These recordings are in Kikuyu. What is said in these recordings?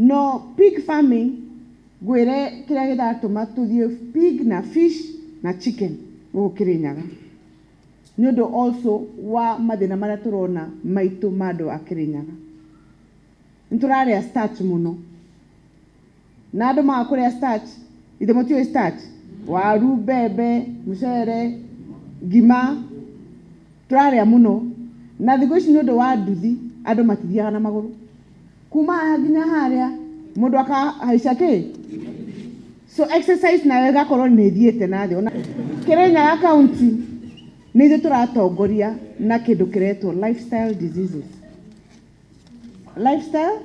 No pig farming ngwĩre kĩrĩa kĩratũma tũthiĩ pig na fish na chicken gũkũ Kĩrĩnyaga nĩ ũndũ also wa mathĩna marĩa tũrona maitũ ma andũ a Kĩrĩnyaga. Nĩ tũrarĩa starch mũno na andũ maga kũrĩa starch, githĩ mũtiũĩ starch? Waru, mbembe, mũcere, ngima, tũrarĩa mũno na thikũ ici nĩ ũndũ wa nduthi andũ matithiaga na magũrũ. kuma haha nginya harĩa mũndũ akahaica kĩ so exercise nayo ĩgakorwo nĩ ĩthiĩte na thĩ ona kĩrĩnyaga kaunti nĩ ithuĩ tũratongoria na kĩndũ kĩretwo lifestyle diseases lifestyle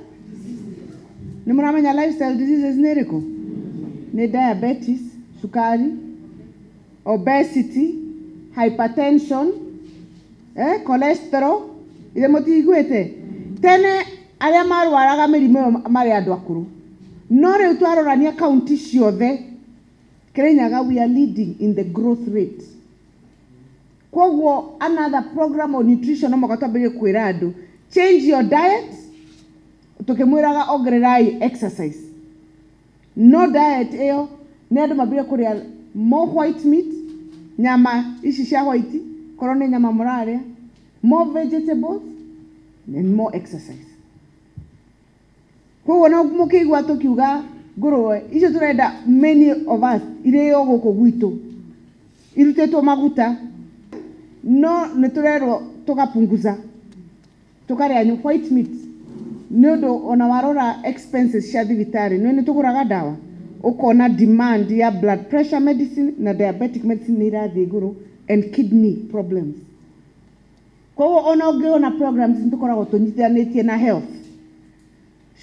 nĩ mũramenya lifestyle diseases nĩ ĩrĩkũ nĩ diabetes cukari obesity hypertension eh, cholesterol ithe mũtiiguĩte tene arĩa marwaraga mĩrimũ ĩyo marĩ andũ akũrũ no rĩu twarorania kaunti ciothe Kirinyaga we are leading in the growth rate kwoguo another program on nutrition no mũka twambĩrĩrie kwĩra andũ change your diet tukimwiraga ongererai exercise No diet ĩyo nĩ andũ mambire kũrĩa more white meat, nyama ici cia white, korwo nĩ nyama mũrarĩa, more vegetables and more exercise. Koguo no mũkĩigua tũkiuga ngũrũwe icio tũrenda many of us irĩo gũkũ gwitũ irutĩtwo maguta no nĩ tũrerwo tũgapunguza. tũkarĩa nyu white meat nĩ ũndũ ona warora expenses cia thibitarĩ nĩ nĩ tũgũraga ndawa ũkona demand ya blood pressure medicine na diabetic medicine nĩ irathiĩ igũrũ and kidney problems koguo ona ũngĩona programs nĩ tũkoragwo tũnyitithanĩtie na health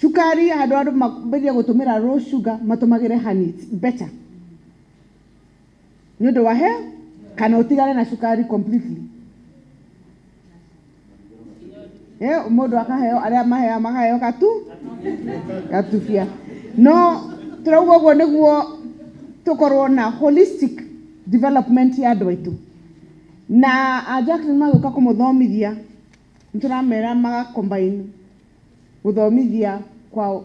cukari handũ andũ mambĩrĩrie gũtũmĩra low sugar matũmagĩre honey it's better nĩ ũndũ wa he kana ũtigane na cukari completely Eh, mũndũ akaheo arĩa maheo makaheo gatu gatubia no tũrauga ũguo nĩguo tũkorwo na holistic development ya andũ aitũ na a Jacqueline magĩũka kũmũthomithia nĩ tũramera magacombine gũthomithia kwa